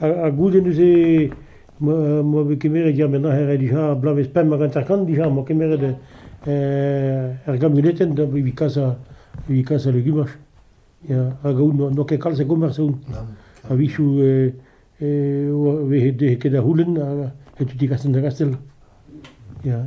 Ha goude neuze m'oa bet kemeret ya met aze dija bloavezh pemp hag hanter-kant dija m'oa kemeret er gamuletenn evit kas evit kas al legumaj ya hag aon n'oa ket kalz a gomañs aon a-wechoù e vehe ket da c'houlenn setu ti Kastell-da-Gastell ya.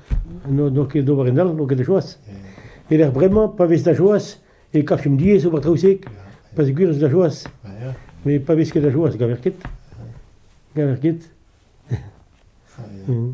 n'on ket d'ober en all, n'on ket da choaz. E-lec'h bremañ, pa vez da choaz, e kavfemp diaes ober traoù-se, peogwir ez da choaz. Met pa vez ket da choaz, gaver ket. Gaver ket. Mm.